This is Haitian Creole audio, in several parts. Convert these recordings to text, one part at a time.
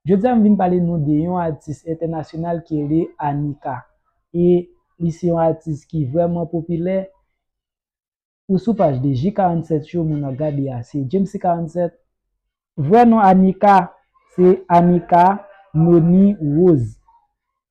Jodi a m vin pale nou de yon atis entènasyonal ki rele Anika e li se yon atis ki vrèman popilè ou sou paj li J 47 yo moun ap gade a se Djemsy 47 vrè non Anika se Anika Noni Rose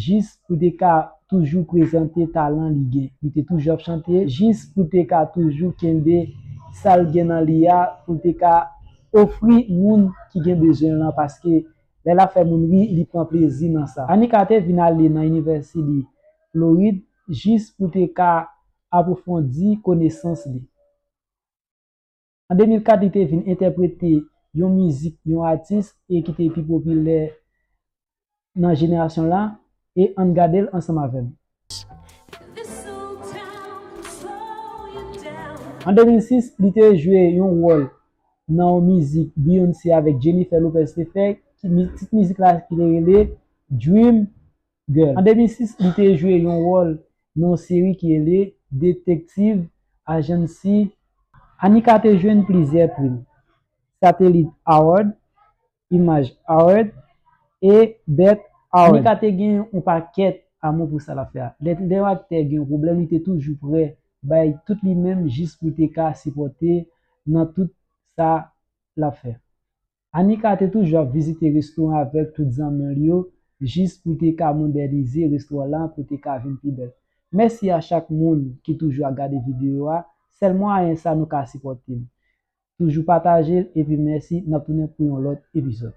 Jis pou te ka toujou prezante talan li gen. Li te toujou ap chante jis pou te ka toujou kenbe sa l gen nan li a pou l te ka ofri moun ki gen bezwen l lan paske lè l ap fè moun ri li pran plezi nan sa. Annie Carter vin ale nan Inivèsidi Florid jis pou te ka apwofondi konesans li. An 2004 li te vin entèprete yon mizik yon atis e ki te pi popilè nan jenerasyon l la e ann gade l ansanm avè m. An 2006 li te jwe yon wòl nan yon mizik Beyoncé avèk Jennifer Lopez te fè, tit mizik la ki te rele Dream Girl. An 2006, li te jwe yon wòl nan yon seri ki rele Detective Agency. Anika te jwenn plizyè prim, Satellite Award, Image Award, e BET Award. Anika te gen yon pakèt amou pou sa l ap fè a. Lè yon aktè gen yon pwoblèm li te toujou prè bay tout li menm jis pou l te ka sipòte nan tout sa l ap fè. Anika te toujou ap vizite resto an avèk tout zanmi l yo jis pou te ka modènize resto an lan pou te ka vin pi bèl. Mèsi a chak moun ki toujou ap gade videyo a, sèl mwayen sa nou ka sipòte m. Toujou pataje l epi mèsi, n ap tounen pou yon lòt epizòd.